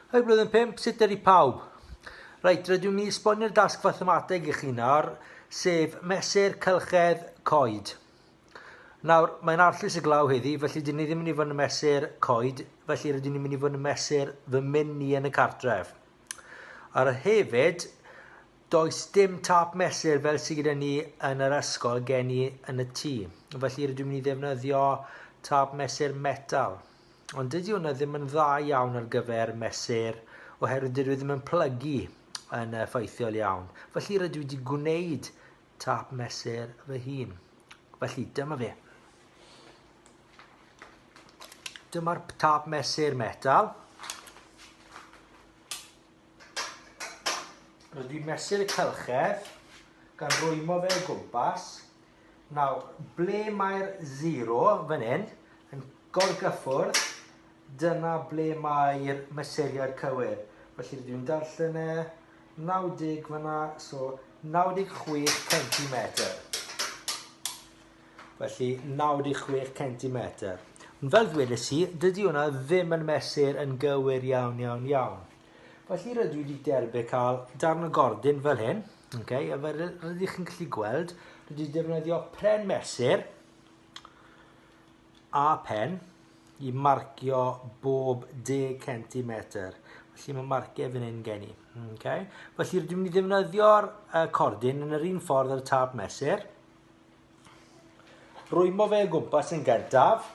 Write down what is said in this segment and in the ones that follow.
Hei blwyddyn pump, sut ydy pawb? Reit, rydw i'n esbonio'r dasg fathemateg i chi nawr, sef mesur cylchedd coed. Nawr, mae'n arllus y glaw heddi, felly dyn ni ddim yn mynd i fod yn mesur coed, felly rydyn ni'n mynd i fod yn mesur fy myn ni yn y cartref. Ar y hefyd, does dim tap mesur fel sydd gyda ni yn yr ysgol gen i yn y tŷ. Felly rydw i'n mynd i ddefnyddio tap mesur metal. Ond dydy hwnna ddim yn dda iawn ar gyfer mesur oherwydd dydw i ddim yn plygu yn effeithiol iawn. Felly rydw i wedi gwneud tap mesur fy hun. Felly dyma fe. Dyma'r tap mesur metal. Rydw i'n mesur y cylchedd gan rwymo fe o gwmpas Nawr, ble mae'r zero fan hyn yn gorgyffwrdd, dyna ble mae'r mesuriad cywir. Felly rydw i'n darllen e, 90 fyna, so 96 centimetr. Felly 96 centimetr. Ond fel ddwedes i, dydy hwnna ddim yn mesur yn gywir iawn, iawn, iawn. Felly rydw i wedi derbyn cael darn o gordyn fel hyn, okay, a fel rydych chi'n gallu gweld, rydw wedi defnyddio pren mesur a pen i marcio bob 10 cm. Felly mae marciau fan hyn gen i. Okay. Felly rydw wedi defnyddio'r uh, cordyn yn yr un ffordd ar y tab mesur. Rwymo fe o gwmpas yn gyntaf.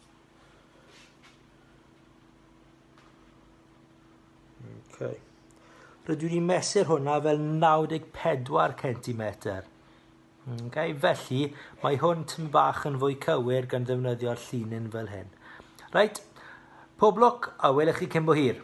Okay. Rydw i'n mesur hwnna fel 94 cm. Okay, felly, mae hwn tyn bach yn fwy cywir gan ddefnyddio'r llinyn fel hyn. Reit, pob lwc a welwch chi cyn bo hir.